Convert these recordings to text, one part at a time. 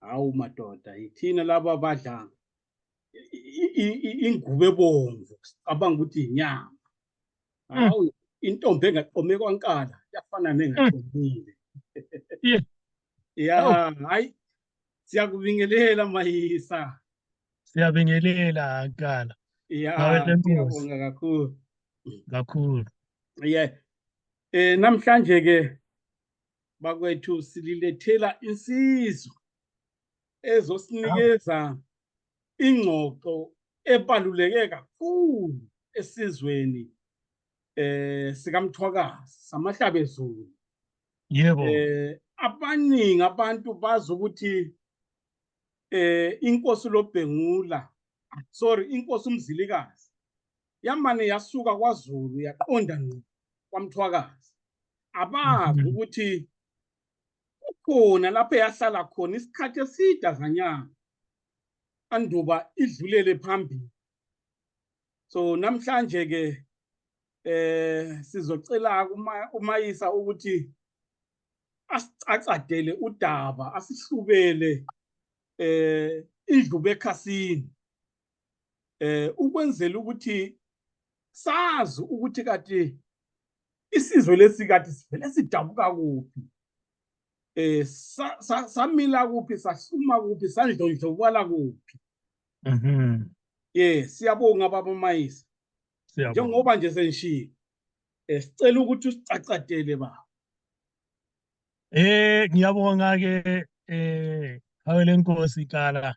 hawu madoda yithina laba badla ingubo ebomvu sicabanga ukuthi inyama mm. hawu intombi engaqome kwankala yafana mm. nengaqomile ya hayi siyakubingelela mayisa siyabingelela nkala ya ngiyabonga kakhulu kakhulu yeah eh namhlanje ke bakwethu sililethela insizwa ezosinikeza ingxoxo ebaluleke kakhulu esizweni eh sikamthwakazi samahlabezulu yebo eh abaningi abantu bazi ukuthi eh inkosi lobhengula sorry inkosi umzilikazi yamane yasuka kwaZulu yaqonda ngqo kwaMthwakazi abazi mhm. ukuthi ukhona lapho yahlala khona isikhathi eside azanyanga anduba idlulele phambili so namhlanje ke eh sizocela umayisa ukuthi asicacadele udaba asihlubele eh indlu bekhasini eh ukwenzela ukuthi sazi ukuthi kade isizwe lesi kade sivele sidabuka kuphi eh samila kuphi sahluma kuphi sandlondlobala kuphi mhm yeah siyabonga baba mayisa njengoba nje senshilo eh, sicela ukuthi usicacadele baba eh ngiyabonga ke eh hawe lenkosi kala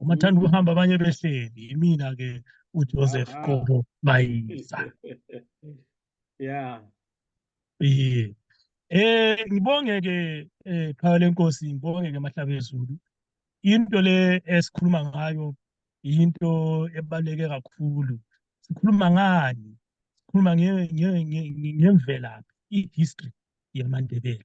uma thanda ukuhamba abanye behleli imina ke uJoseph ah, ah. Qobo Mayisa yeah yeah eh ngibonge ke eh khaya lenkosi ngibonge ke mahlabe ezulu into le esikhuluma ngayo into ebaleke kakhulu sikhuluma ngani sikhuluma ngemvelaphi i-history yamaNdebele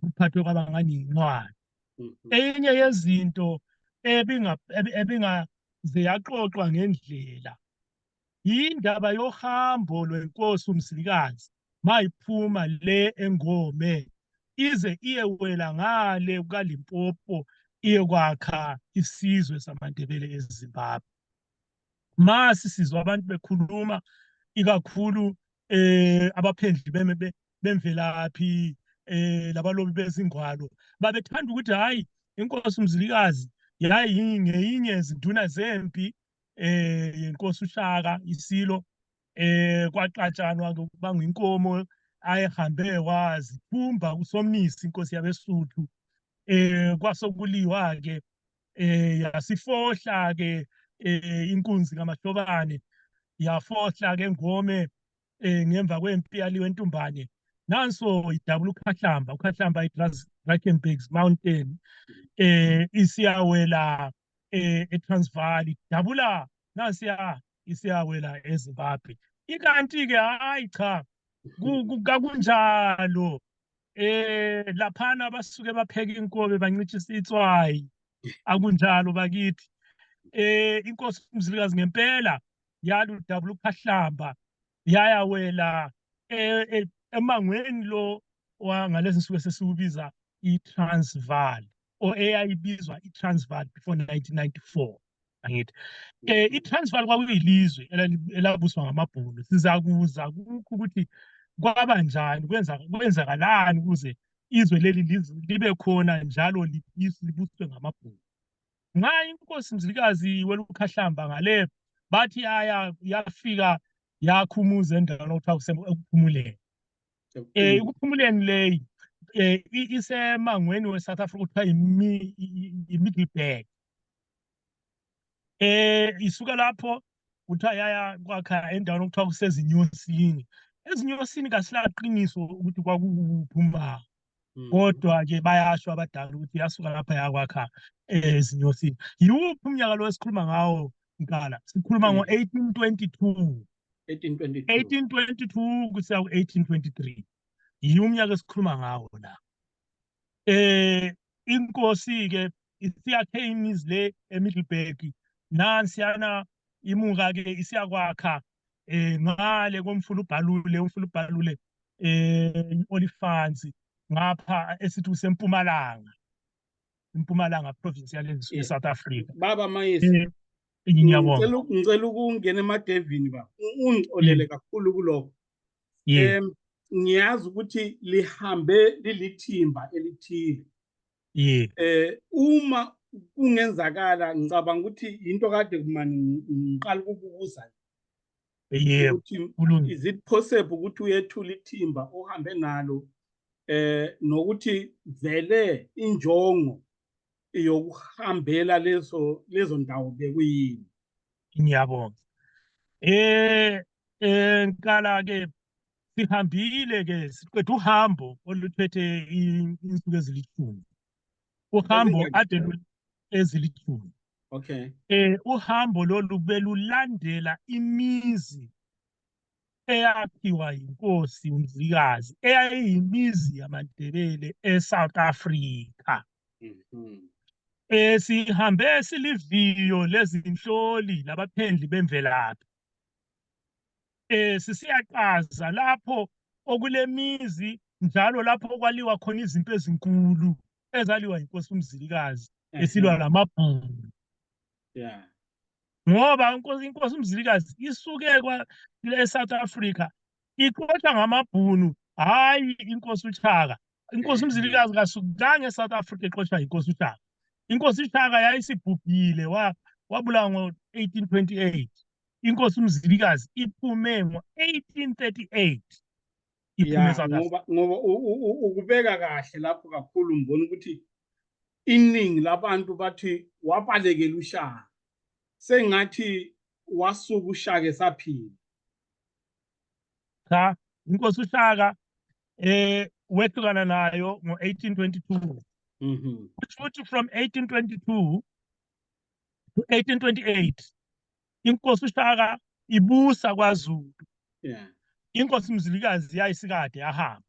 kuphathwe kwaba ngani yincwadi mhm. enye yezinto ebinga ebinga ziyaxoxwa ngendlela yindaba yohambo lwenkosi umsilikazi mayiphuma le engome ize iyewela ngale kukaLimpopo iyokwakha isizwe samaNdebele eZimbabwe masi sizwa abantu bekhuluma ikakhulu eh abaphendli beme bemvelaphi eh labalobi bezingwalo babethanda ukuthi hayi inkosi umzilikazi yayi ngeyinye izinduna zempi eh yenkosi ushaka isilo eh kwaxatshanwa ngokubanga inkomo ayihambe wazi phumba kusomnisi inkosi yabesuthu eh kwasokuliwa ke eh yasifohla ke eh inkunzi kamahlobane yafohla ke ngome eh ngemva kwempi yaliwe entumbane nanso idabula ukhahlamba ukhahlamba idrakenberg mountain eh isiyawela eh etransvaal idabula nasiya isiyawela ezimbabwe ikanti ke hayi cha kakunjalo eh laphana abasuke bapheka inkobe bancishisa itswayi akunjalo bakithi eh inkosi umzilikazi ngempela yala udabula ukhahlamba yaya wela eh, eh, emangweni lo wangalezi nsuku esesiwubiza i-transval or eyayibizwa i-transval before 1994 angithi eh iTransvaal kwakuyilizwe elabuswa ngamabhunu sizakuza kukho ukuthi kwaba njani kwenza kwenzakalani ukuze izwe leli libe khona njalo libuswe ngamabhunu nxa inkosi mzilikazi welukhahlamba ngale bathi yaya yafika yakhumuza endaweni okuthiwa kusephumuleni um eh, ekuphumuleni leyi um isemangweni we-south africa kuthiwa yi-middleburg eh isuka lapho kuthiwa yaya kwakha endaweni okuthiwa kusezinyosini ezinyosini kasilaqiniso ukuthi kwakukuphi uma hmm. kodwa-ke bayasho abadala ukuthi yasuka lapha yakwakha ezinyosini yiwuphi umnyaka lo esikhuluma ngawo mkala sikhuluma hmm. ngo-eighteen twenty two 1822 kusiya ku-1823 yiwo umnyaka esikhuluma ngawo la eh inkosi ke isiyakhe imizi le eMiddleburg nansiyana imuka ke isiyakwakha eh ngale komfula ubhalule umfula ubhalule eh iolifansi ngapha esithi usempumalanga impumalanga province yale south africa baba mayisi eh, ngiyabonga ngicela ukungena emadevini ba ungixolele mm. kakhulu kuloko em ngiyazi ukuthi lihambe lilithimba elithile yeah eh uma kungenzakala ngicabanga ukuthi into kade kumani ngiqala ukubuza yebo kulungile is it possible ukuthi uyethula ithimba ohambe nalo eh nokuthi vele injongo yokuhambela lezo lezo ndawo bekuyini ngiyabonga eh enkala ke sihambile ke siqeda uhambo oluthethe insuku ezilithumi uhambo ade ezilithumi okay eh uhambo lolu belulandela imizi eyakhiwa yinkosi uMzilikazi eyayiyimizi yamaNdebele eSouth Africa mhm. eh sihambe siliviyo lezinhloli labaphendli bemvelaphi eh sisiyaqaza lapho okulemizi njalo lapho kwaliwa khona izinto ezinkulu ezaliwa yinkosi uMzilikazi esilwa namabhulu yeah ngoba inkosi inkosi umzilikazi isuke eSouth Africa ixoxa ngamabhunu hayi inkosi uChaka inkosi umzilikazi kasukanga eSouth Africa ixoxa inkosi uChaka inkosi uChaka yayisibhubhile wa wabulawa ngo-1828 inkosi umzilikazi iphume ngo-1838 iphume eSouth Africa ngoba ukubeka kahle lapho kakhulu ngibona ukuthi iningi labantu bathi wabalekela ushaka sengathi wasuka ushaka esaphila cha inkosi ushaka eh wehlukana nayo ngo-1822 mhm kusho ukuthi from 1822 to 1828 inkosi ushaka ibusa kwazulu yeah inkosi mzilikazi yayisikade yahamba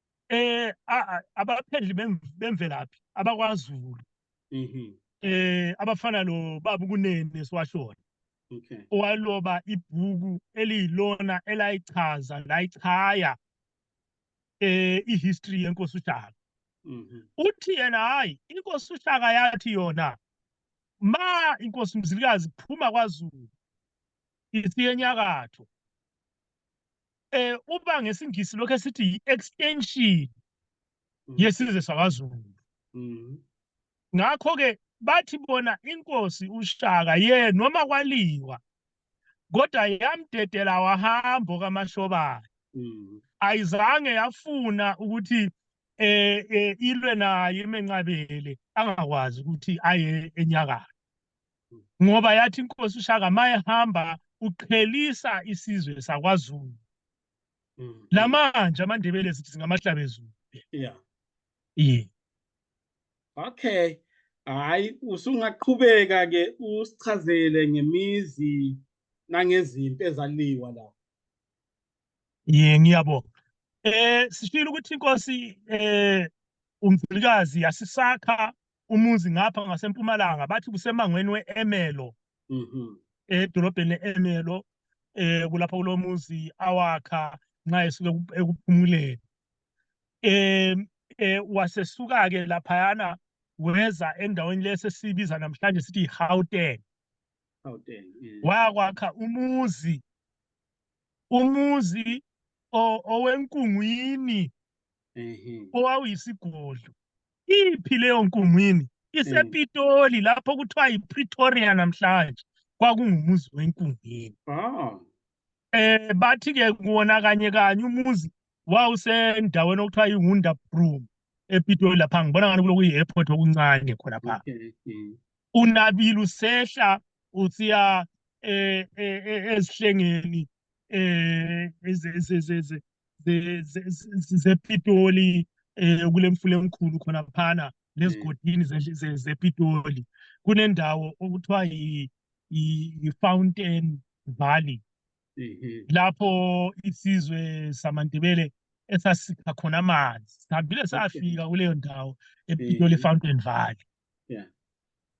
eh abaphendli bemvelaphi abakwaZulu mhm. eh abafana lo babu kunene siwashona okay owaloba ibhuku eliyilona elayichaza layichaya eh ihistory yenkosi uShaka mhm. uthi yena hayi inkosi uShaka yathi yona ma inkosi mzilikazi phuma kwaZulu isiyenyakatho eh uba ngesingisi lokho esithi yi-extension mm. yesizwe sakwaZulu mm. ngakho ke bathi bona inkosi uShaka ye noma kwaliwa kodwa yamdedela wahambo kaMashobane mm. ayizange yafuna ukuthi eh, eh ilwe naye emenqabele angakwazi ukuthi aye enyakatho ngoba yathi inkosi ushaka mayihamba uqhelisa isizwe sakwazulu mm. namanje amandebele sithi singamahlabezulu yeah yeah okay hayi usungaqhubeka ke usichazele ngemizi nangezimpi ezaliwa la ye ngiyabonga eh sishilo ukuthi inkosi eh umfilikazi yasisakha umuzi ngapha ngasempumalanga bathi kusemangweni we-emelo mhm. edolobheni le-emelo eh kulapha kulo muzi awakha nxa esuke ekuphumuleni eh eh wasesuka ke laphayana weza endaweni lesesibiza namhlanje sithi iGauteng Gauteng eh. wakwakha umuzi umuzi owenkungwini owawuyisigodlo iphi leyo nkungwini isepitoli lapho kuthiwa yipretoria namhlanje kwakungumuzi wenkungwini ah. eh bathi ke kuwona kanye kanye umuzi wawusendaweni okuthiwa yiwonder broom epitoli lapha ngibona ngani kuloku yi-airport okuncane khona pha mm. unabile usehla usiya eh, eh, eh, ezihlengeni eh zepitoli eh kule mfula enkulu khona phana nezigodini zepitoli kunendawo okuthiwa yi-fountain valley mhm. lapho isizwe samandebele esasikha khona amanzi sihambile safika kuleyo ndawo epitoli mhm. fountain valley yeah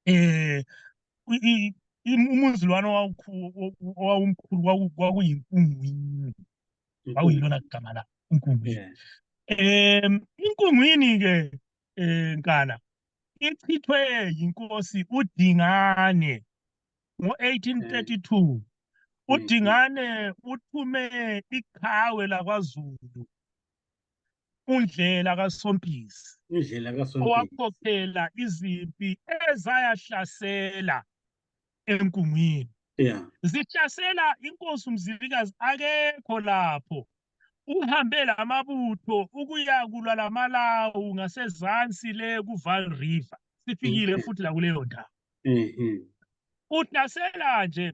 eh umuzilwane owawumkhulu kwakuyinkungu kwakuyilona gama la inkungu um inkungwini-ke um eh, nkana ichithwe yinkosi udingane ngo-1832 udingane uthume iqhawe lakwazulu undlela kasompisi indlela kasompisi owakhokhela izimpi ezayahlasela enkungwini yeah zihlasela inkosi umzilikazi akekho lapho uhambe lamabutho ukuya kulwa lamalawu ngasezansi le kuval river sifikile mm-hmm. futhi la kuleyo ndawo mm-hmm. uhlasela nje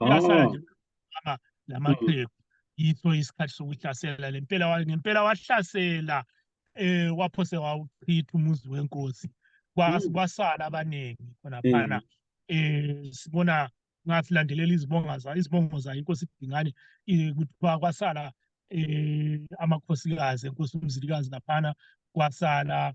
Uyasala nje ama lamaphepha yitho isikhathi sokuhlasela lempela wa- ngempela wahlasela eh waphose wawuchitha umuzi wenkosi Kwa- Mm. kwasala abaningi khona Mm. phana eh sibona ngasilandelela izibonga za izibongo za inkosi Dingane eh, kuthiwa kwasala eh amakhosikazi enkosi uMzilikazi laphana kwasala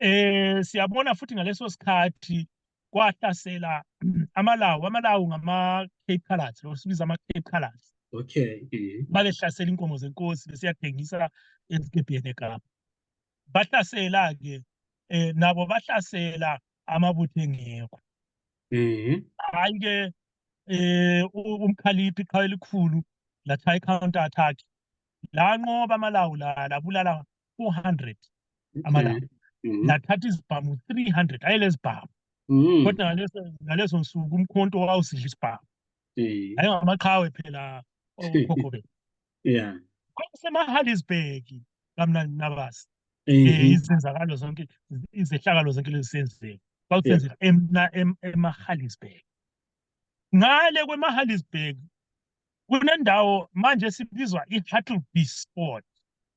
eh siyabona futhi ngaleso sikhathi kwahlasela amalawu amalawu ngama Cape Colors lo sibiza ama Cape Colors okay mm-hmm. balehlasela inkomo zenkosi besiyathengisa esikebheni eKapa bahlasela ke eh nabo bahlasela amabutho engekho mhm hayi ke eh umkhaliphi iqhawe elikhulu latha i counter attack lanqoba amalawu la labulala 400 amalanga mm-hmm. nathatha izibhamu 300 ayi lezibhamu mm. kodwa ngaleso ngaleso nsuku umkhonto wawusidla isibhamu ayi ngamaqhawe phela okhokho bethu yeah kwakusemahalisburg kamnandi nabasi mm-hmm. eh, izenzakalo zonke izehlakalo zonke lezisenzeka kwakusenzeka emahalisburg ngale kwemahalisburg kunendawo manje sibizwa i-hattleby sport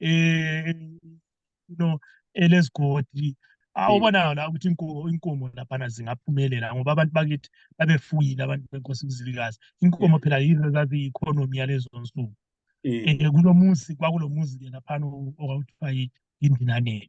eh no elezigodi awubonayo la ukuthi inkomo inkomo laphana zingaphumelela ngoba abantu bakithi babefuyile abantu benkosi uMzilikazi inkomo phela yizo zazi economy yalezo nsuku eh kulomuzi kwakulomuzi ke laphana okuthiwa yindinaneni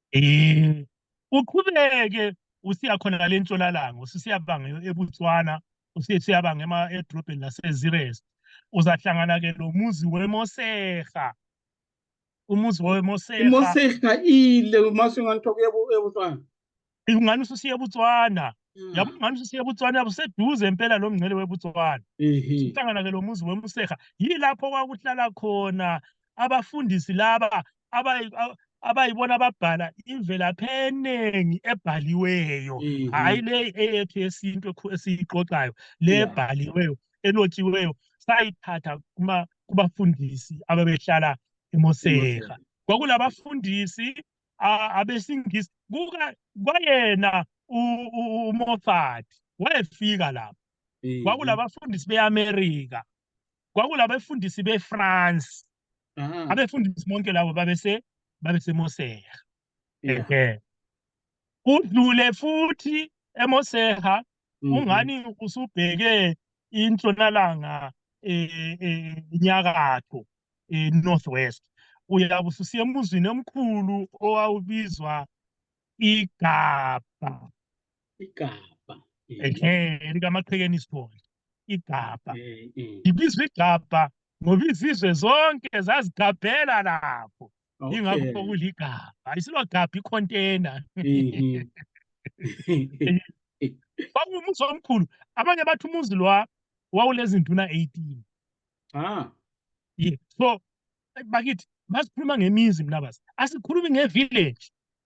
Eh, uqhubeke usiya khona ngale ntshonalanga usisiyabanga eBotswana usisiyabanga ema edrobheni laseZires uzahlangana ke lo muzi weMoseha umuzi weMoseha imoseha ile mase nganthoka ebutswana ingani ususiya eBotswana Mm. yabo ngani ususiya eBotswana yabo seduze impela lo mngcele weBotswana ehe uhlangana ke lo muzi weMoseha yilapho kwakuhlala khona abafundisi laba abayibona ababhala imvelaphi eningi ebhaliweyo mm-hmm. hhayi le eyethu yesintu esiyiqoqayo le ebhaliweyo enotshiweyo sayithatha kubafundisi ababehlala emoseha kwakulabafundisi abesingisi kwayena umothadi wayefika lapho kwakulabafundisi beamerika kwakulabefundisi beFrance ah. abefundisi bonke labo babese babesemoseha ehe udlule futhi emoseha mhm. ungani usubheke intshonalanga eh, eh, inyakatho eh, north west uyabe ususiya emuzini omkhulu owawubizwa igabha igabha ehe likamaqhekeni isibonda igabha ibizwa igabha ngoba izizwe zonke zazigabhela lapho ingakho kuligabha isilogabha ikhontena kwakuwumuzi omkhulu abanye bathi umuzi lwa wawulezinduna 18 ah yeah so bakithi masikhuluma ngemizi mnabazi asikhulumi ngevillage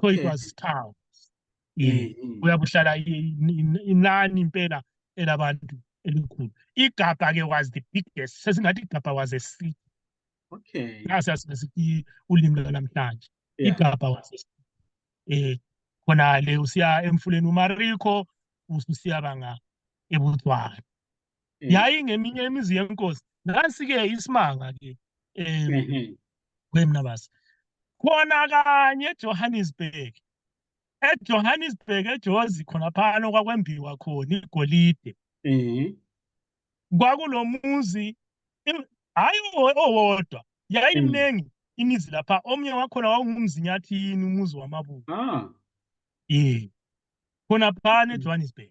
so it was town eh uyabuhlala inani impela elabantu elikhulu igabha ke was the biggest sesingathi igabha was a city okay nasi asibesithi ulimi lwanamhlanje igabha was a city eh khona le usiya emfuleni umariko ususiya banga ebudzwana mm. yayingeminye imizi yenkosi nansi-ke isimanga-ke um mm-hmm. kwemna basi khona kanye ejohannesburg ejohannesburg ejozi khonaphana okwakwembiwa khona igolide mm-hmm. kwakulo muzi hhayi owodwa yayimningi mm. imizi lapha omunye wakhona wawungumzinyathini umuzi wamabuka ah. ye khonaphana ejohannesburg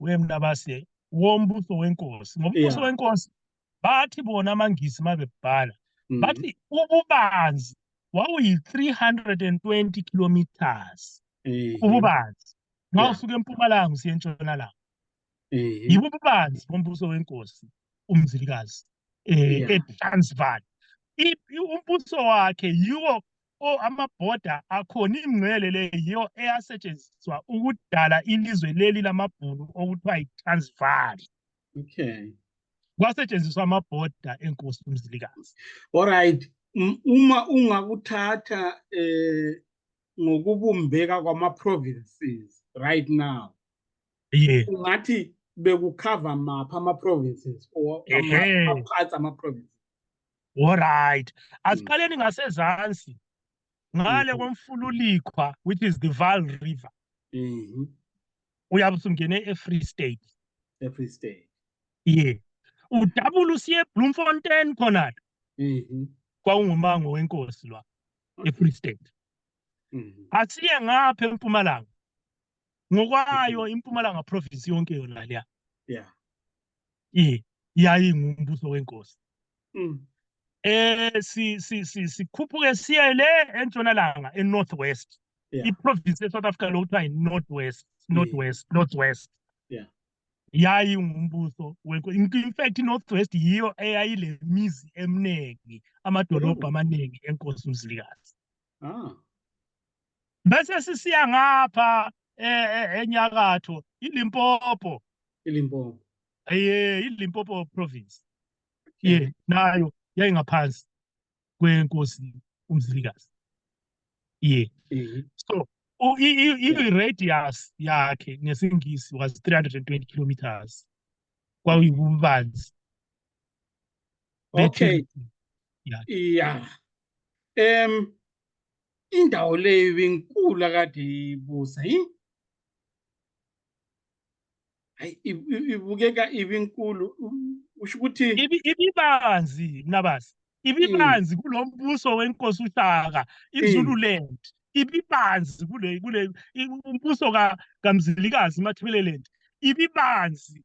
wemnabase wombuso wenkosi ngombuso wenkosi bathi bona amangisi mabebhala mm. bathi ububanzi wawuyi-320 kilometers ububanzi ma usuke empumalanga usiye entshonalanga yibo ububanzi bombuso wenkosi umzilikazi um etransval umbuso wakhe yiwo o amabhoda akhona ingcele le yiyo eyasetshenziswa ukudala ilizwe leli lamabhunu okuthiwa yi-transval okay kwasetshenziswa amabhoda enkosi umzilikazi alright uma ungakuthatha eh ngokubumbeka kwama-provinces right now yeah. ungathi bekukhava maphi ama-provinces or aphathi ama-provinces Alright. Asiqaleni ngasezansi. Ngale Mhm. komfululikhwa which is the Vaal River. Mhm. Uyabe usungene eFree State. Every state. Yeah. Udabula usiye eBloemfontein khona Mhm. kwawungumango wenkosi lwa eFree State. Mhm. Asiye ngapha eMpumalanga. ngokwayo impumalanga province yonke yona leya yeah eh yayingumbuso wenkosi mm. eh si si si sikhuphuke siye le entshonalanga e north west yeah. i province e south africa lokuthiwa i north west north west yeah. north west yeah yayingumbuso wenkosi in fact north west yiyo eyayile mizi eminingi amadolobha mm. amaningi enkosi umzilikazi Ah. Bese sisiya ngapha e, e, enyakatho iLimpopo. ILimpopo. Ye, iLimpopo province. Ye, nayo yayingaphansi kwenkosi uMzilikazi. Ye. Mhm. So u- i- i- i-radius yakhe ngesingisi was 320 kilometers. Kwakuyibubanzi Okay. Yeah. Yeah. Em indawo leyo inkulu akade ibusa yi Hayi i- i- ibukeka ibinkulu u- usho ukuthi Ibi- ibibanzi mnabazi ibibanzi kulo mbuso wenkosi ushaka izululand ibibanzi kule kule i- umbuso ka kamzilikazi mathebeleland ibibanzi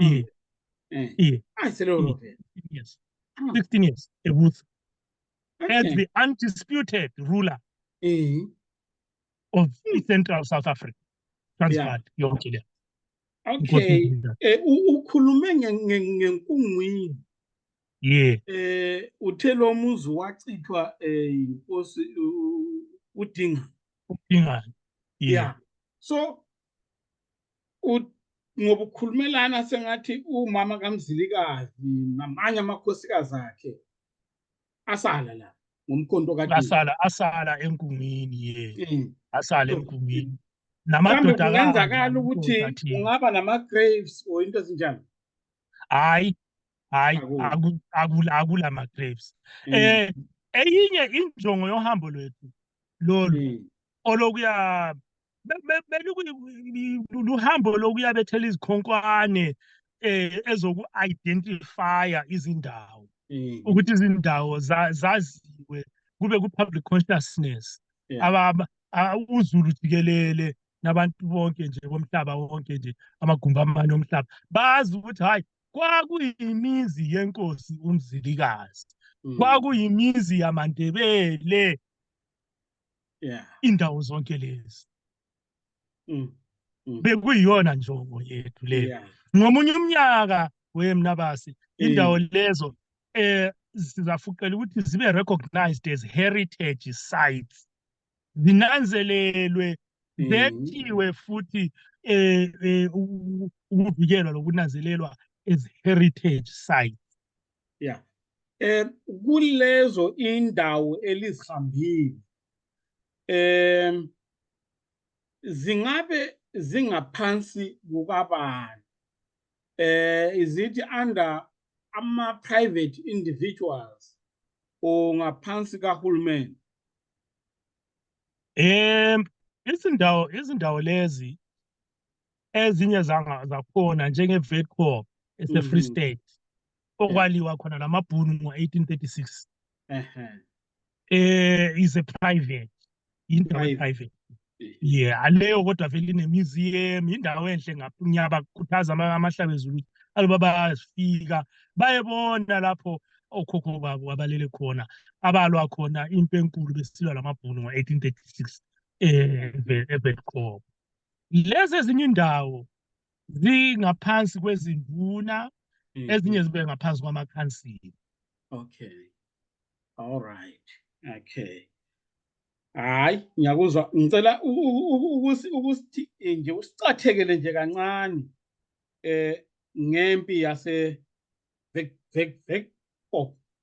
e eh. e ayi selolo vele yes 16 years ebutho as the undisputed ruler eh of central south africa transvaal yonke le okay eh, ukhulume ngenkungwini yeah eh uthe lo muzi wachithwa eh inkosi udinga udinga yeah so ngoba ukhulumelana sengathi umama kamzilikazi namanye amakhosikazi akhe asala la ngomkhonto ka asala asala enkungwini ye mm. asala enkungwini namadoda kungenzakala ukuthi ungaba nama graves or into ezinjalo hayi hayi akula akula ma graves mm. eh eyinye injongo yohambo lwethu lolu mm. olokuya luhambo lokuya bethela izikhonkwane eh ezoku-identifya izindawo mm. ukuthi izindawo zaziwe kube ku-public consciousness uzulu jikelele nabantu bonke nje bomhlaba wonke nje amagumbi amane omhlaba bazi ukuthi hhayi kwakuyimizi yenkosi umzilikazi mm. kwakuyimizi yamandebele yeah indawo zonke lezi mm. mm. bekuyiyona njongo yethu le yeah. ngomunye umnyaka wemnabasi indawo mm. lezo eh sizafuqela ukuthi zibe recognized as heritage sites zinanzelelwe mm. zethiwe futhi eh, eh ukuvikelwa lokunanzelelwa as heritage sites ya um kulezo indawo elizihambile um zingabe zingaphansi kukabani eh is it under ama private individuals or ngaphansi kahulumeni um izindawo izindawo lezi ezinye zakhona njenge-vetcorp esefree mm. state okwaliwa khona la mabhunu ngo-1836 um eh, is a private yindawo e-private yeah aleyo kodwa vele inemuseum yindawo enhle ngiyabakhuthaza amahlabezulu ukuthi aloba bayafika bayebona lapho okhokho babo abalele khona abalwa khona impi enkulu besilwa lamabhunu ngo-1836 eh, evetcop lezi ezinye indawo zingaphansi kwezinduna mm-hmm. ezinye zibe ngaphansi kwamakhansili okay all right okay hayi ngiyakuzwa ngicela ukuthi ukuthi nje usicathekele nje kancane eh ngempi yase vek vek vek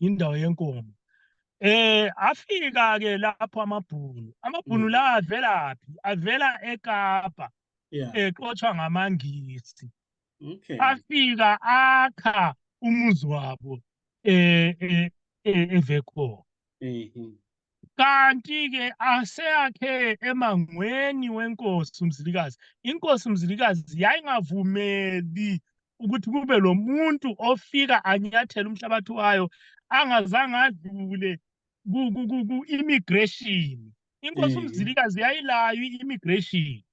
indawo yenkomo eh afika ke lapho amabhunu amabhunu mm. la avela phi avela eKapa exothwa ngamangisi okay afika akha umuzi wabo eh, eh, eh evekhona mhm. kanti-ke aseyakhe emangweni wenkosi umzilikazi inkosi umzilikazi yayingavumeli ukuthi kube lo muntu ofika anyathele umhlabathi wayo angazange adlule ku-immigration inkosi umzilikazi yayilayo i-immigration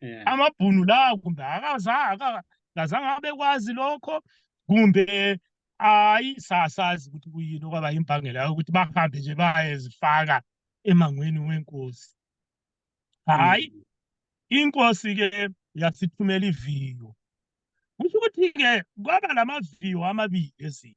yeah. amabhunu lawo kumbe akazange abekwazi lokho kumbe hayi sasazi ukuthi kuyini okwaba imbangela yokuthi bahambe nje bayezifaka emangweni wenkosi hayi mm. inkosi-ke yasithumela iviyo kusho ukuthi-ke kwaba la maviyo amabili ezini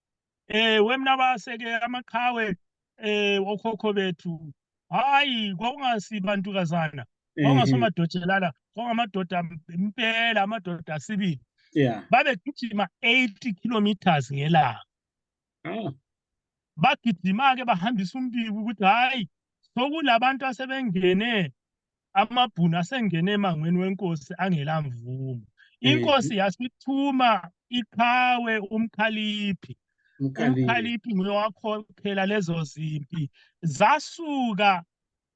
eh wemnabase ke amaqhawe eh okhokho bethu hayi kwakungasibantu kazana mhm. kwakungasomadojelala kwangamadoda impela amadoda asibili yeah babegijima 80 kilometers ngelanga oh. bagijima ke bahambisa umbiko ukuthi hayi sokulabantu asebengene amabhunu asengene emangweni wenkosi angelamvumo inkosi yasithuma iqhawe umkhaliphi umkhaliphi nguye wakhokhela lezo zimpi zasuka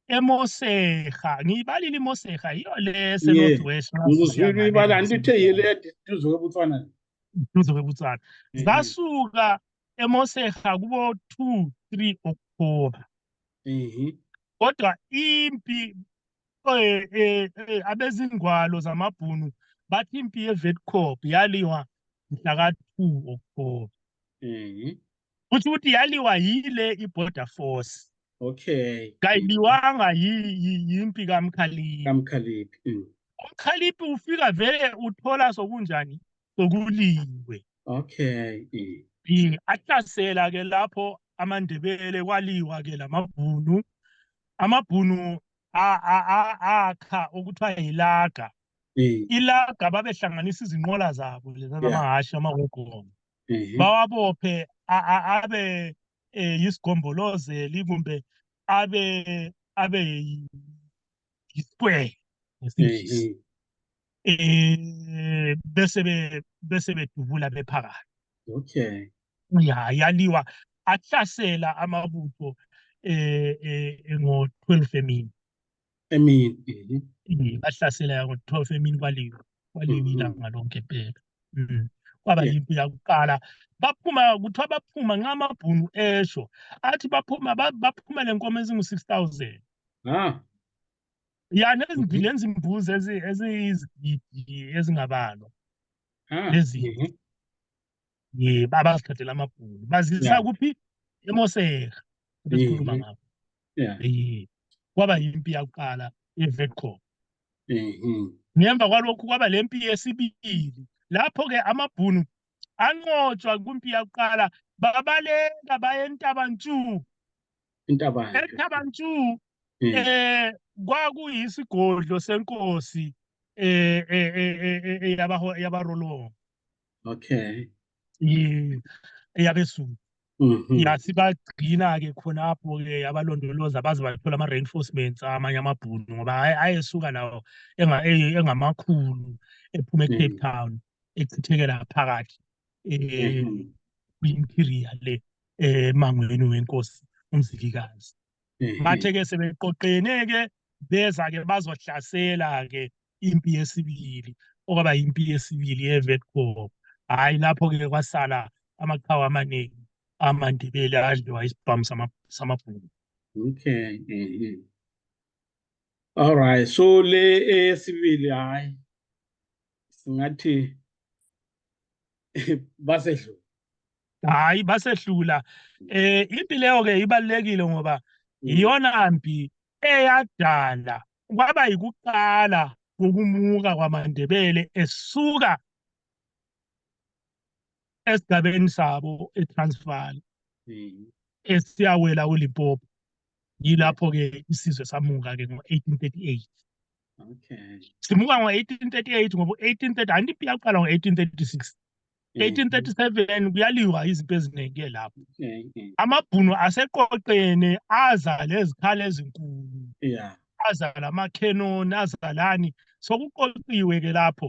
emoseha ngiyibalile imoseha yiyo le esenorth west ngizwile ibala andithe yile eduze kwebutswana eduze kwebutswana zasuka emoseha kubo-two three october Mhm. kodwa impi eh, eh, eh, abezingwalo zamabhunu bathi impi yevetcop yaliwa mhla ka-two oktoba Mhm. kutho ukuthi yaliwa yile i-border force Okay. kayiliwanga yi- yi- yimpi kamkhaliphi Kamkhaliphi. Mm. umkhaliphi ufika vele uthola sokunjani sokuliwe okay b ahlasela ke lapho amandebele kwaliwa ke lamabhunu amabhunu akha okuthiwa yilaga ilaga babehlanganisa izinqola zabo leza zamahhashi amahogoma mm-hmm. bawabophe abe eh, yisigombolozeli kumbe abe abe yisquare ngesingisi mm-hmm. eh bese be bese bedubula bephakathi okay ya yaliwa ahlasela amabutho eh, eh ngo 12 emini emini bahlasela ngo 12 emini kwaliwa kwaliwa mm-hmm. ilanga lonke phela mm. kwaba yimpi yakuqala baphuma kuthiwa baphuma nxa amabhunu esho athi baphuma baphuma lenkomo ezingu-6000 ah ya nezimpilo Mhm. nezimbuzi ezi- eziyizigidi ezingabalwa Ah, Lezi- mhm. um abazithathela amabhunu bazisa Yeah. kuphi emoseka besikhuluma Mhm. ngabo Yeah. Eh, kwaba yimpi yakuqala evetcom Mhm. ngemva kwalokhu kwaba le mpi yesibili lapho-ke amabhunu anqotshwa kwimpi yakuqala babaleka baye entabantshu intabantshuu entabantshuu hmm. eh kwakuyisigodlo senkosi eh eh eh, eh yabaho yabarolo okay yeah eyabesuku mhm. yasibagcina ke khonapho ke abalondoloza baze bathola ama reinforcements amanye amabhunu ngoba ayesuka lawo engamakhulu ephuma e Cape mm. Town echithekela phakathi eh mm-hmm. kwi interior le emangweni wenkosi umzilikazi mhm. bathe ke sebeqoqene ke beza ke bazohlasela ke impi yesibili okwaba impi yesibili yeVetcom hayi lapho ke kwasala amaqhawe amaningi amandebele adliwa isibhamu samabhunu okay mhm. all right so le eyesibili hayi singathi basedlula hayi basehlula eh impi leyo ke ibalekile ngoba mm. iyona mpi eyadala kwaba yikuqala kokumuka kwamaNdebele esuka esigabeni sabo eTransvaal mm. esiyawela uLimpopo yilapho-ke isizwe samuka-ke ngo-1838 okay simuka ngo-1838 ngoba u-1830 anti impi yaqala ngo-1836 1837 kuyaliwa izinto eziningi-ke lapho amabhunu aseqoqene aza lezikhala ezinkulu aza lamakhenoni azalani sokuqoqiwe-ke lapho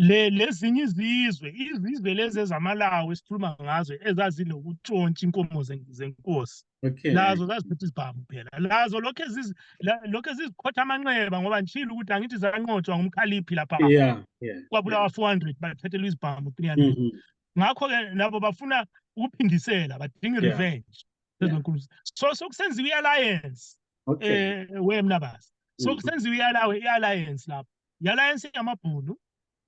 le lezinye izizwe izizwe lezi ezamalawi esikhuluma ngazo ezazinokuntshontsha inkomo zenkosi okay lazo zaziphethe isibhamu phela lazo lokhe zizi lokhe zizikhotha amanxeba ngoba ngishilo ukuthi angithi zanqotshwa ngumkhaliphi lapha yeah yeah kwabulawa 400 bathethelwa isibhamu 300 mm -hmm. ngakho ke nabo bafuna ukuphindisela badinga yeah. revenge lezinkulu yeah. so sokusenziwa i-alliance okay. eh wemna basi sokusenziwa mm-hmm. i-alliance lapho i-alliance yamabhunu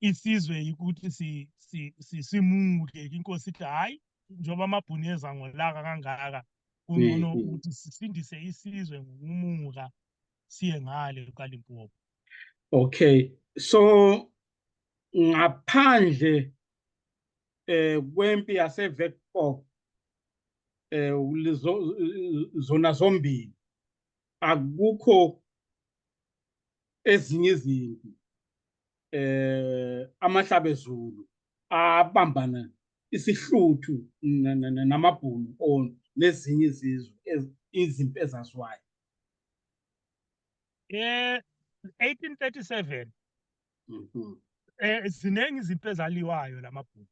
isizwe ukuthi si si si simuke inkosi ithi hayi njengoba amabhuni eza ngolaka kangaka kungcono mm, mm. ukuthi sisindise isizwe ngokumuka siye ngale kaLimpopo okay so ngaphandle eh kwempi yaseVetpop eh zona zombili akukho ezinye izimpi eh amahlabezulu abambana isihluthu namabhunu on nezinye izizwe izimpi ezaziwayo eh 1837 mhm. eh ziningi izinto ezaliwayo lamabhunu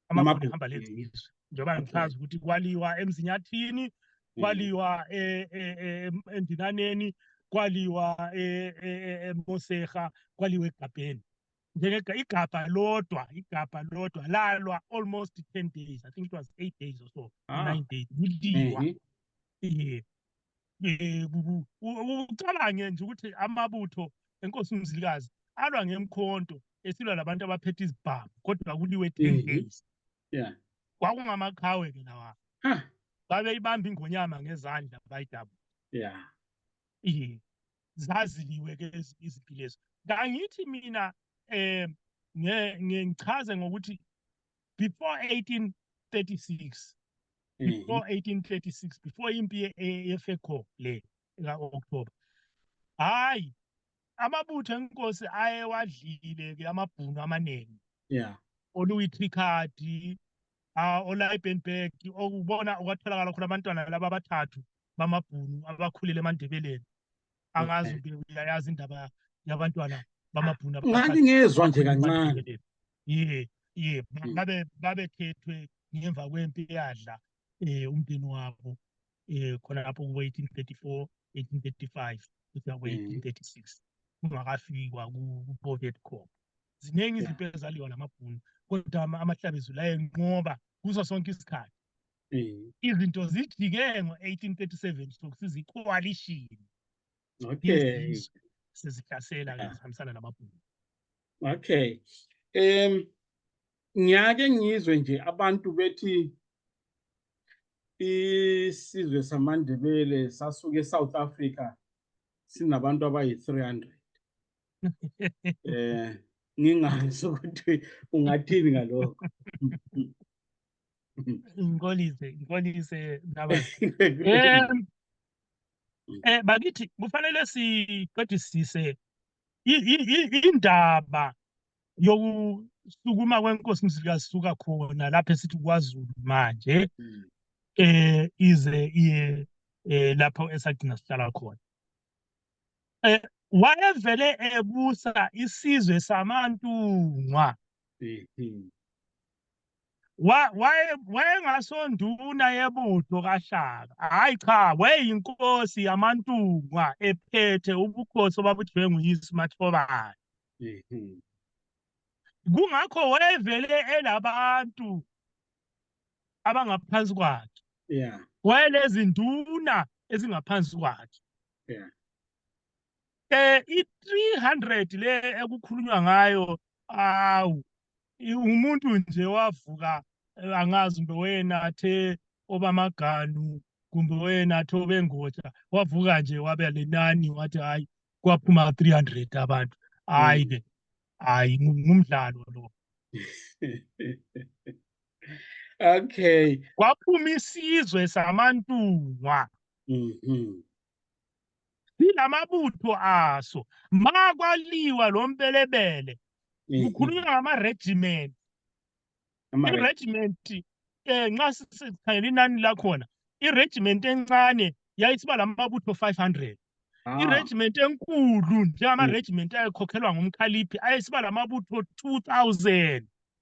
amabhunu ehamba lenza izwe njengoba ngichaza ukuthi kwaliwa emzinyathini kwaliwa e, e, e, endinaneni kwaliwa emoseha kwaliwa egabheni njengegabha lodwa igabha lodwa lalwa almost 10 days i think it was 8 days or so 9 ah. days kuliwa mhm. yeah ucabange nje ukuthi amabutho enkosi umzilikazi alwa ngemkhonto esilwa labantu abaphethe izibhamu kodwa kuliwe ten mm-hmm. days yeah kwakungamaqhawe ke lawa babeyibamba ingonyama ngezandla bayidabu yeah yeah zaziliwe ke izinto lezo kangithi mina eh ngichaze ngokuthi before 1836 mm-hmm. before 1836 before impi yefeco le ka-october hhayi amabutho enkosi ayewadlile-ke amabhunu amaningi yeah oluyitrikadi ah, olayibenberg okubona okwatholakala khona abantwana laba abathathu bamabhunu abakhulele emandebeleni angazi uke uyayazi indaba yabantwana bamabhunu ngathi ngezwa nje kancane ye ye hmm. babe babekhethwe ngemva kwempi eyadla eh umndeni wabo eh khona lapho kubo 1834 1835 kuya ku 1836 kungakafikwa ku Pocket Corp ziningi izinto ezaliwa namabhunu kodwa amahlabezulu ayenqoba kuso sonke isikhathi Mm. izinto zijike ngo-1837 sokuthi zikoalishini okay sezihlasela ke zihambisana namabhunu okay um ngiyake ngizwe nje abantu bethi isizwe samandebele sasuke e-south africa sinabantu abayi-300 um eh, ngingazi ukuthi ungathini ngalokho ngikolise ngikolise naba um eh bakithi kufanele siqedisise indaba yokusukuma kwenkosi mzilikazuka khona lapho esithi kwaZulu manje hmm. eh ize iye eh, lapho esagcina sihlala khona eh wayevele ebusa isizwe samantungwa hmm, hmm. wayengasonduna yebutho kaShaka hhayi cha wayeyinkosi yamaNtungwa ephethe ubukhosi obabudliwe nguyise uMathobane mhm. kungakho wayevele elabantu abangaphansi kwakhe yeah wayelezinduna ezingaphansi kwakhe yeah eh i300 le ekukhulunywa ngayo awu umuntu nje wavuka eh, angazi kumbe wena athe obamaganu kumbe wena athe obengoja wavuka nje wabe lenani wathi hayi kwaphuma 300 abantu hayi ke hayi ngumdlalo lo okay kwaphuma isizwe samantungwa mhm sinamabutho aso makwaliwa lo mpelebele mm-hmm. kukhulunywa ngama-regiment i-regiment um nxa sikhangela inani lakhona i-regiment encane yayisiba la mabutho 500 ah. i-regiment enkulu njengama-regiment mm. ayekhokhelwa ngumkhaliphi ayesiba la mabutho 2000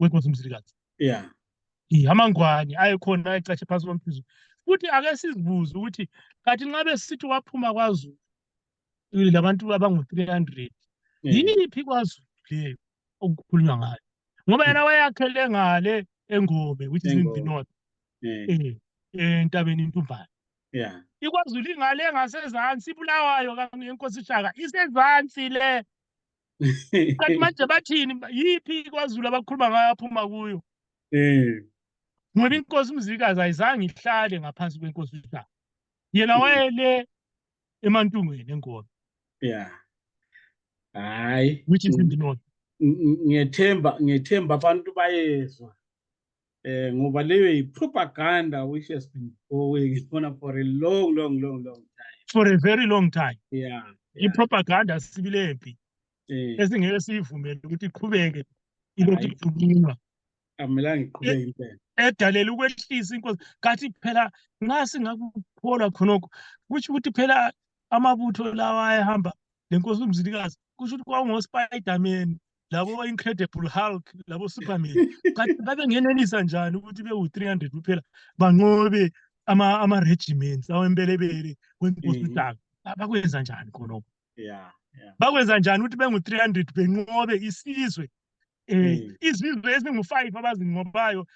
wenkosi mzilikazi yeah amangwane ayekhona ayecashe phansi komphezulu futhi ake sizibuze ukuthi kathi nxa besithi waphuma kwazulu labantu abangu-three hundred mm. yiphi kwazulu leyo okukhulunywa ngayo ngoba yena wayakhele ngale engobe which is in the north mm. eh, entabeni intumbane yeah ikwazulu ingale ngasezansi ibulawayo yenkosi shaka isezansi le kanti manje bathini yiphi kwazulu abakhuluma ngayo aphuma kuyo um ngoba inkosi umzilikazi ayizange ihlale ngaphansi kwenkosi ushaka yena mm. wayele emantungweni enkolo ya hayi which is mm. indinona ngiyethemba ngiyethemba abantu bayezwa eh ngoba leyo yi propaganda which has been going on for a long long long long time for a very long time yeah, yeah. i propaganda sibilempi eh. esingeke siyivumele ukuthi iqhubeke ilokhu ikhulunywa amelanga iqhubeke impela edalela ukwehlisa inkosi kathi phela nxa singakukholwa khonokho kusho ukuthi phela amabutho lawa ayehamba lenkosi umzilikazi kusho ukuthi kwakungospiderman labo incredible hulk labo superman babengenelisa njani ukuthi bewu-300 kuphela banqobe ama-regiments awembelebele wenkosi mm. udaka bakwenza njani khonoko bakwenza njani ukuthi bengu-300 benqobe isizwe um mm. izizwe ezingu-five abazinqobayo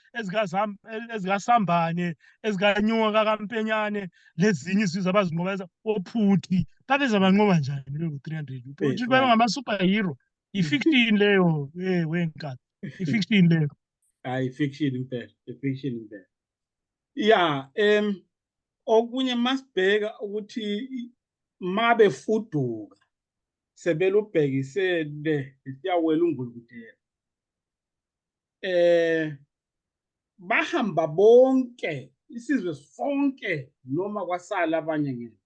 ezikasambane ezikanyoka kakampenyane lezinye izizwe abazinqobayo ophuthi babeza banqoba njani bewu-300 eh, ukuthi bebe ngama-superhero yeah. i-fiction leyo eh wenkani i-fiction leyo hayi fiction impela i-fiction impela ya em okunye masibheka ukuthi mabe fuduka sebelubhekise le siyawela ungulukutela eh bahamba bonke isizwe sonke noma kwasala abanye ngeke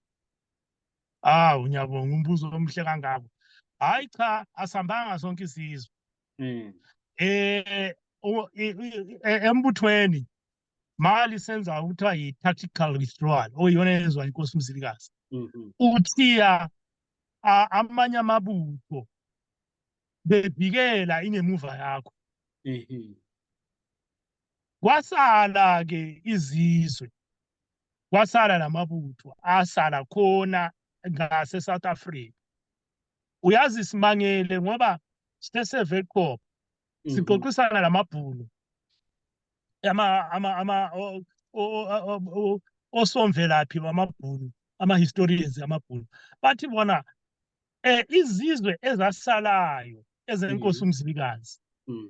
Ah ngiyabonga umbuzo omuhle kangako. Hayi cha asambanga sonke isizwe. Mm. Eh embuthweni mali senza ukuthiwa yi-tactical withdrawal oyiyona yenziwa inkosi umzilikazi mm-hmm. uthiya amanye amabutho bebhikela ingemuva yakho mm-hmm. kwasala-ke izizwe kwasala lamabutho asala khona ngase South Africa uyazi simangele ngoba siseve qop mhm. siqoqisana lamabhulu ama ama ama osomvelaphi bamabhulu ama historians amabhulu bathi bona eh izizwe ezasalayo ezenkosi mhm. umzilikazi mhm.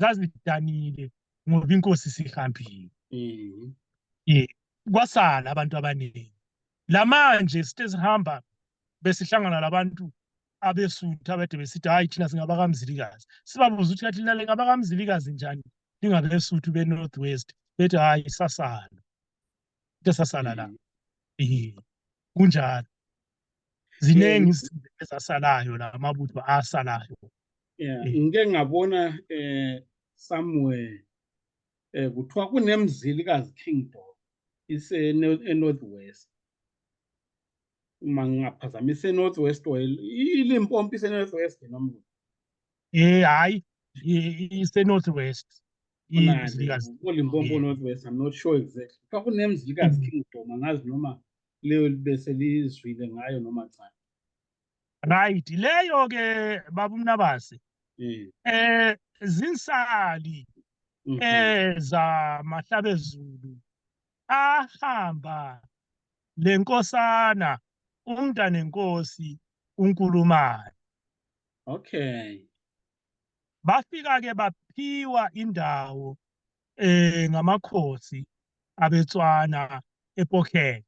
zazidanile ngoba inkosi sihambile mhm. ye kwasala abantu abaningi lamanje sithe sihamba besihlangana labantu abesuthu abade besithi hayi thina singabakamzilikazi sibabuza ukuthi kathi lina lingabakamzilikazi njani lingabesuthu be-north west bethi hayi sasala into sasala la mhm. kunjalo ziningi izinto ezasalayo la mabutho asalayo yeah eh. ngike ngabona eh somewhere eh kuthiwa kunemzili kazi kingdom ise north west uma ngingaphazamisa enorth west or ilimpompi isenorth west noma Eh hayi ise North West. Imzilikazi. Olimpopo North West I'm not sure exactly. Kwakunemzilikazi mm. King Doma ngazi noma leyo bese lizwile ngayo noma cha. Right leyo ke baba umnabase. Mm. Eh zinsali mm-hmm. eh za mahlabezulu ahamba lenkosana umntanenkosi uNkulumane Okay. Bafika ke baphiwa indawo eh ngamakhosi abetswana ePokheng.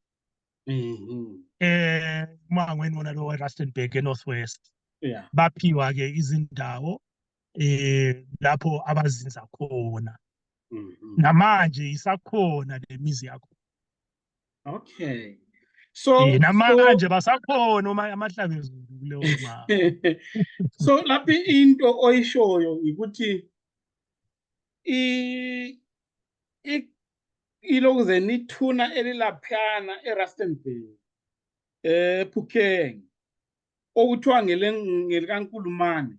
Mhm. Eh mangweni wona lo Rustenburg eNorthwest. Yeah. Baphiwa ke izindawo eh lapho abazinza khona. Mhm. Namanje isakhona lemizi yakho. okay so eh, namanje basakhona uma amahlanga ezulu kuleyo mama so lapha into oyishoyo ukuthi i ilokuze nithuna elilaphana eRustenburg eh Phukeng okuthiwa ngelikaNkulumane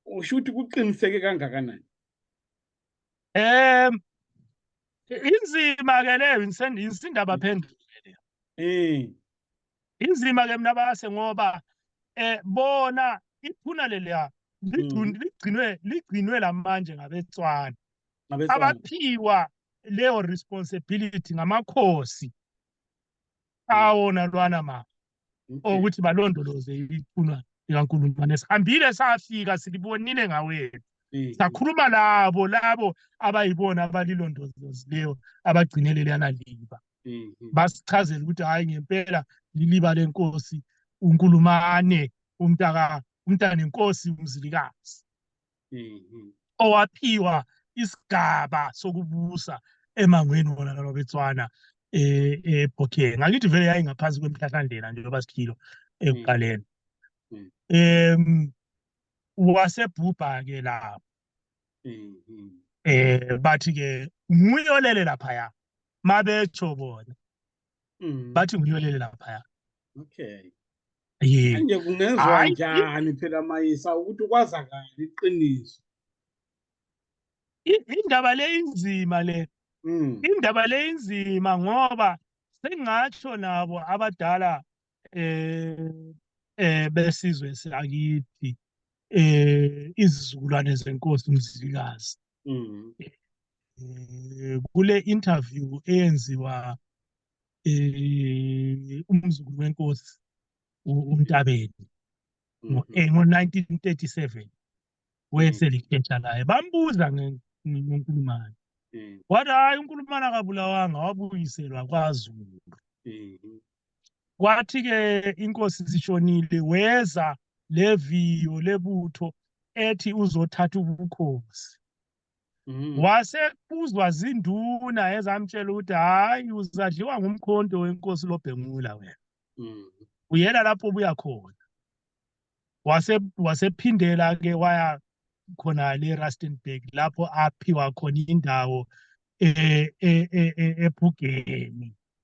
usho ukuthi kuqiniseke kangakanani um inzima-ke leyo insindaba phendule leyo eh. inzima-ke mna base ngoba um bona iphuna leliya hmm. ligcinwe ligcinwe la manje ngabetswana abaphiwa leyo responsibility ngamakhosi awo nalwana ma okuthi balondoloze ithunwa likaNkulumane sihambile safika silibonile ngawethu sakhuluma labo labo abayibona abalilondolozileyo abagcinele leyana liba mm-hmm. basichazela ukuthi hhayi ngempela liliba lenkosi unkulumane umntaka umntanenkosi umzilikazi mhm. owaphiwa isigaba sokubusa emangweni wona nalobetswana eh, ebhokeni ngakithi vele yayingaphansi kwemhlahlandlela nje loba siphilo ekuqaleni mm. em wasebhubha-ke lapho mm-hmm. eh bathi-ke nguyolele laphaya mabetsho bona Mm. bathi ngiyolele laphaya Okay. ye Manje kungenzwa Hayi. njani phela Mayisa ukuthi kwazakala iqiniso? I- indaba le inzima le Mm. indaba le inzima ngoba sengatsho nabo abadala eh eh besizwe sakithi eh izizukulwane zenkosi umzilikazi mm. eh, kule interview eyenziwa eh, umzukulu wenkosi uNtabeni mm-hmm. eh, ngo-1937 wayeselikhesha mm. laye bambuza ngenkulumane mm. wathi hhayi unkulumane akabulawanga wabuyiselwa kwazulu mm-hmm. kwathi ke inkosi sishonile weza leviyo lebutho ethi uzothatha ubukhosi mm. wasekuzwa zinduna ezamtshela ukuthi hayi uzadliwa ngumkhonto wenkosi lobhengula wena mm. uyela lapho obuya khona wase wasephindela ke waya khona le Rustenburg lapho aphiwa khona indawo eh, eh, eh, ephugeni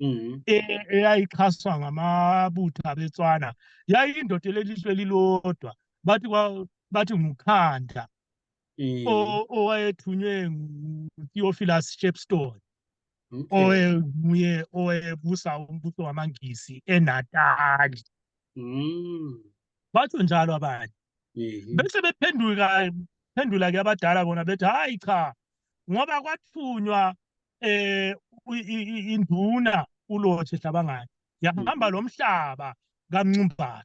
Mhm. e- eyayixhaswa ngamabutho abeTswana yayindoda elelizwe elilodwa bathi kwa- bathi nguKhanda Mm. o- owayethunywe nguTheophilus Shepstone Okay. owenguye owebusa umbuso wamaNgisi eNatali Mm. batho njalo abanye Mhm. bese bephenduka phendula ke abadala bona bethi hayi cha ngoba kwathunywa eh induna uLothe Hlabangani yahamba mm. lomhlaba kaMncumbana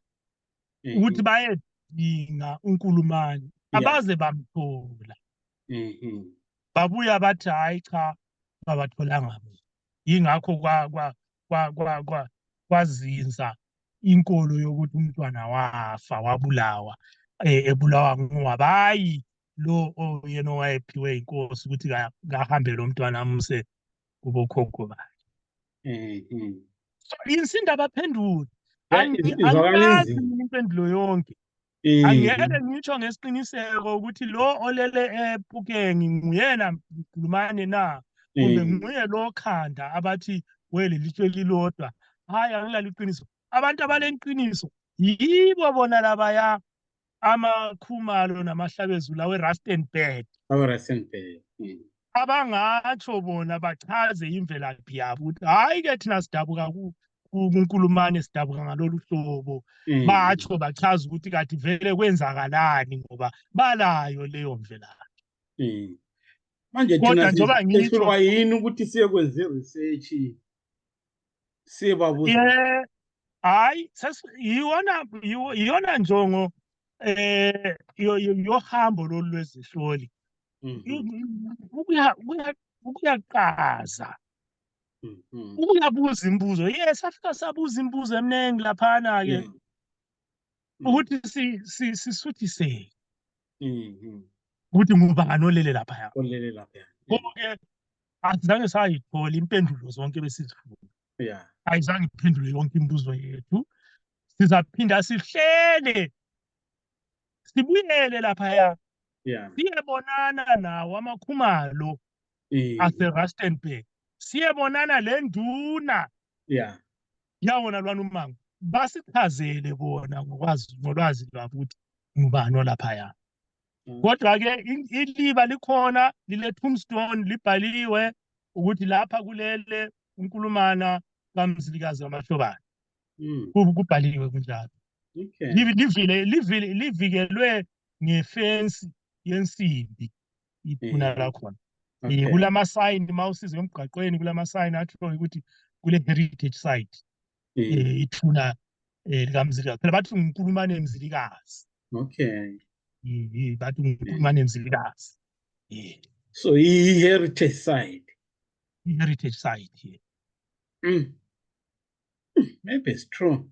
mm-hmm. ukuthi bayedinga uNkulumani abaze bamthola mm-hmm. babuya bathi hayi cha babatholanga mina yingakho kwa kwa kwa kwa kwa kwazinza inkolo yokuthi umntwana wafa wabulawa eh, ebulawa ngowabayi lo oyena owayephiwe inkosi ukuthi kahambe lo mntwana amuse kubokhokho bakhe mm-hmm. insinda abaphenduli angikazi impendulo yonke mm-hmm. angeke ngisho ngesiqiniseko ukuthi lo olele ephukeni nguyena mkhulumane na kumbe mm-hmm. nguye lo khanda abathi welelitshwe lilodwa hhayi angilali iqiniso abantu abaleqiniso yibo bona labaya amakhumalo namahlabezulu awerustenburg awerustenburg hmm. abangatsho bona bachaze imvelaphi yabo ukuthi hhayi-ke thina sidabuka kunkulumane sidabuka ngalolu hlobo hmm. batsho bachaza ukuthi kati vele kwenzakalani ngoba balayo leyo mvelaphi hmm. manje kodwa njengoba ngiyini ukuthi siye kwenze research siye babuza Yeah. Hayi, sas- iyona iyo- iyona njongo eh yo- yo- yohambo lolu lwezihloli. Mhm, I- Ukuya ukuya- ukuyaqaza, mhm, ukuyabuza imibuzo. Yes, safika sabuza imibuzo eminingi laphana ke mhm. ukuthi si si sisuthise. mhm. ukuthi ngubani olele laphaya olele laphaya konke asizange sayithola impendulo zonke besizifuna yeah ayizange iphendule yonke imibuzo yethu sizaphinda sihlele sibuyele laphaya yeah siyebonana nawo amakhumalo Eh, aserustenburg siyebonana le nduna yeah yawona lwana umango basichazele kona ngokwazi ngolwazi lwabo ukuthi ngubani olaphaya Mm. kodwa-ke in- iliba likhona lile-tombstone libhaliwe ukuthi lapha kulele unkulumana kamzilikazi wamahlobana Mm, Ku- kubhaliwe kunjalo okay Livi- livile livile livikelwe ngefensi yensimbi iphuna mm. lakhona um okay. kulamasayini uma usize emgaqweni kulamasayini ahlonge ukuthi kule heritage site um mm. eh, ithuna um eh, likamzilikazi phela bathi ngikulumane mzilikazi okay um bathi ngikulumane mzilikazi um so i-heritage site i-heritage site ye mm. maybe it's true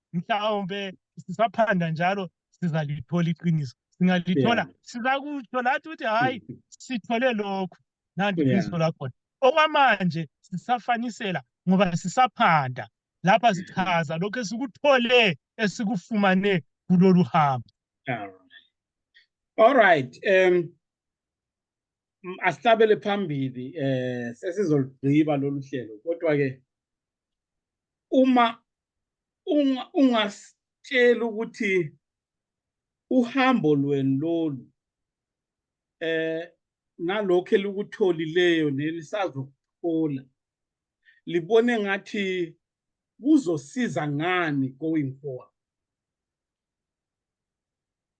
mhlawumbe sisaphanda njalo sizalithola iqiniso singalithola sizakutsho lathi ukuthi hhayi sithole lokhu nanti iqiniso lakhona okwamanje sisafanisela ngoba sisaphanda lapha sichaza lokhu esikuthole esikufumane kulolu hambo all right um asihlabele phambili eh sesizolugqiba lolu hlelo kodwa ke uma ungasitshela ukuthi uhambo lweni lolu eh nalokho elikutholileyo nelisazokuthola libone ngathi kuzosiza ngani going forward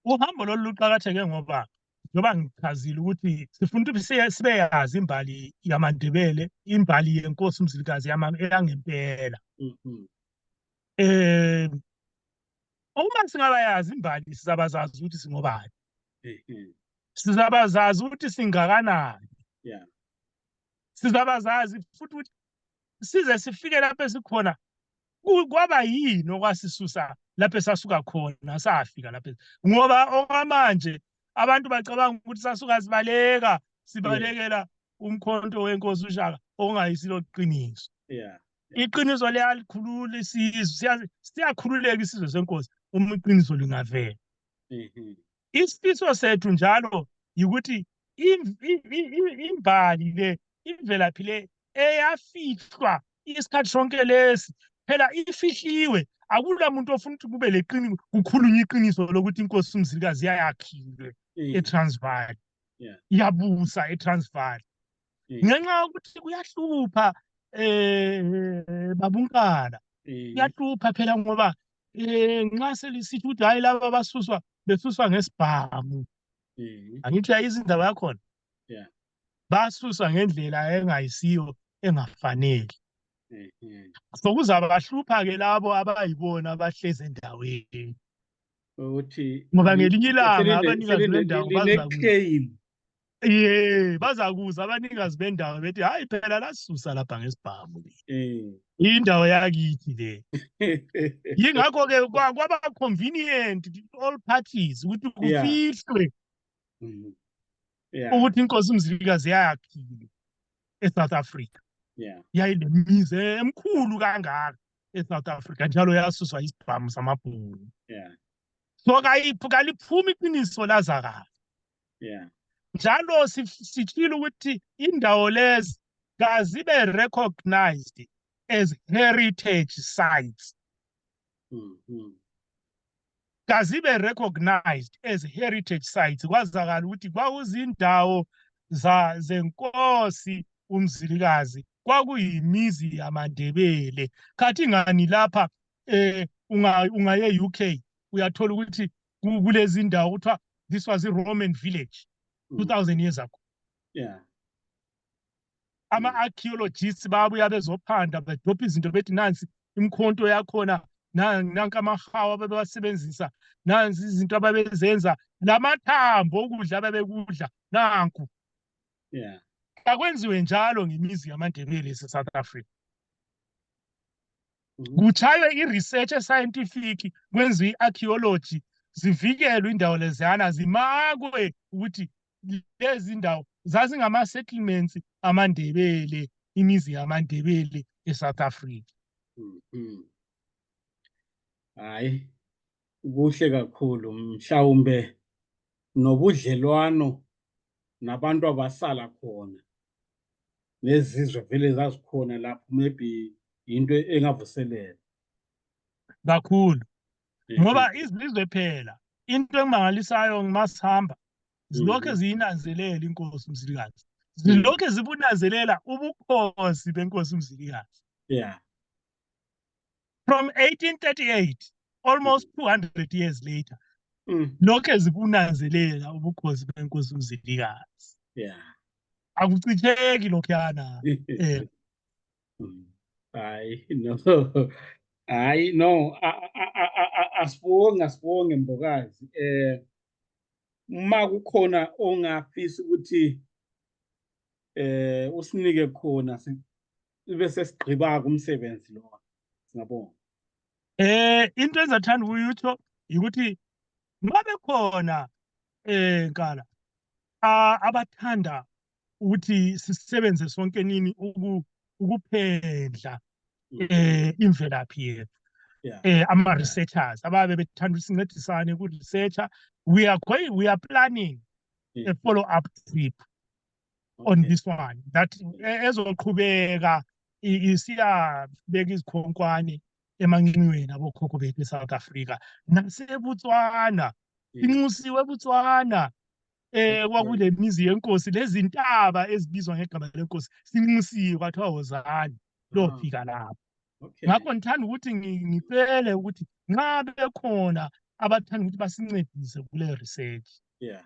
uhambo lolu luqakatheke ngoba njengoba ngichazile ukuthi sifuna ukuthi sibeyazi imbali yamandebele imbali yenkosi umzilikazi yangempela um uma singabayazi imbali sizabazazi ukuthi singobani sizabazazi ukuthi singakanani sizabazazi futhi ukuthi size sifike lapho esikhona kwaba yini okwasisusa lapho esasuka khona safika lapho ngoba okwamanje abantu bacabanga ukuthi sasuka sibaleka sibalekela umkhonto wenkosi ushaka okungayisilo qiniso yeah iqiniso liyalikhulula isizwe siyakhululeka isizwe senkosi uma iqiniso lingavela mm-hmm. isifiso sethu njalo yikuthi imbali le imvelaphi le eyafihlwa isikhathi sonke lesi phela ifihliwe akula muntu ofuna ukuthi kube leqini kukhulunywa iqiniso lokuthi inkosi umzilikazi yayakhile eTransvaal yabusa eTransvaal ngenxa yokuthi kuyahlupha eh babunkana kuyahlupha phela ngoba eh nxa selisithi ukuthi hayi laba basuswa besuswa ngesibhamu angithi ayizindaba yakhona basuswa ngendlela engayisiyo engafanele so kuzabahlupha ke labo abayibona abahlezi endaweni ukuthi ngoba ngelinye ilanga abanikazi bendawo baza ye bazakuza abanikazi bendawo bethi hayi phela lasisusa lapha ngesibhamu eh. indawo yakithi le yingakho ke kwaba convenient all parties ukuthi kufihlwe mm-hmm. ukuthi inkosi umzilikazi yayakhile eSouth Africa yayinemizi emkhulu kangaka eSouth Africa njalo yasuswa isibhamu samabhulu so kaliphumi iqiniso lazakala yeah njalo sitshile ukuthi indawo lezi kazibe recognized as heritage sites mm -hmm. kazibe recognized as heritage sites kwazakala ukuthi kwakuzindawo za zenkosi umzilikazi kwakuyimizi yamandebele khathi ngani lapha eh unga ungaye UK uyathola ukuthi kulezi ndawo kuthiwa this was i-roman village 2000 mm. years ago yeah ama-archaeologists babuya bezophanda bedopha izinto bethi nansi imikhonto yakhona nanka amahawu abebewasebenzisa nansi izinto ababezenza lamathambo okudla abebekudla nanku yeah akwenziwe njalo ngemizi yamandebele ese-south africa mhm. kuchaywe i-research e-scientific kwenziwe i-archaeology zivikelwe indawo leziyana zimakwe ukuthi lezi ndawo zazingama-settlements amandebele imizi yamandebele e-south africa mhm. hayi Kuhle kakhulu mhlawumbe nobudlelwano nabantu abasala khona nezizwe vele zazikhona lapho maybe into engavuselela kakhulu ngoba izizwe phela into engimangalisayo ngimasihamba zilokhe mm-hmm. ziyinanzelela inkosi umzilikazi zilokhe zibunanzelela ubukhosi benkosi umzilikazi yeah from 1838 almost 200 years later mm. lokhe zikunanzelela ubukhosi benkosi umzilikazi yeah akucitheki lokhuyana eh mm. hayi no hayi no asibonge asibonge mbokazi eh uma kukhona ongafisa ukuthi eh usinike khona sibe sesigqiba kumsebenzi lo singabonga eh into engizathanda ukuyitho ukuthi mabe khona eh nkala abathanda ukuthi sisebenze sonke nini ukuphendla mm. eh imvelaphi yethu eh ama researchers ababe bethanda ukusincedisane ku researcher we are going we are planning a follow up trip on Okay. this one that e- ezoqhubeka i- isiyabeka izikhonkwane emanqinweni abokhokho bethu eSouth Africa naseBotswana Yes. inxusiwe eBotswana eh Okay. kwakule mizi yenkosi lezintaba ezibizwa ngegama lenkosi sinxusiwe kwathiwa wozani Ah, lofika lapho okay. ngakho ngithanda ukuthi ngi- ngicele ukuthi nxa bekhona abathanda ukuthi basincedise kule research Yeah.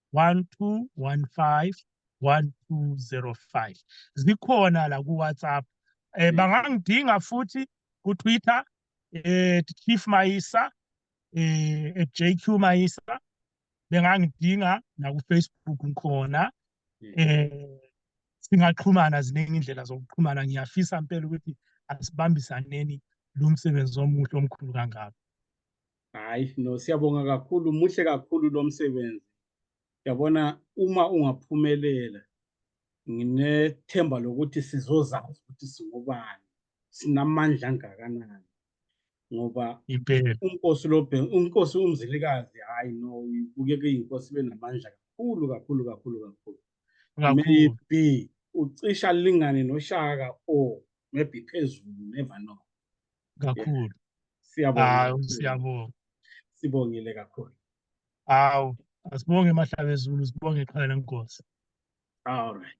1215 1205 zikhona la ku WhatsApp eh bangangidinga futhi ku Twitter eh Chief Mayisa eh at JQ Mayisa bengangidinga na ku Facebook ngikhona eh singaxhumana ziningi indlela zokuxhumana ngiyafisa impela ukuthi asibambisaneni lo msebenzi omuhle omkhulu kangaka hayi no siyabonga kakhulu muhle kakhulu lo msebenzi yabona uma ungaphumelela nginethemba lokuthi sizozazi ukuthi singobani sinamandla angakanani ngoba unkosi lobhe unkosi umzilikazi hayi no ibukeke inkosi benamandla kakhulu kakhulu kakhulu kakhulu maybe ucisha lingane noshaka or maybe phezulu never know kakhulu hawu siyabonga sibongile kakhulu hawu asibonge emahlaba ezulu sibonge iqhala lenkosi all right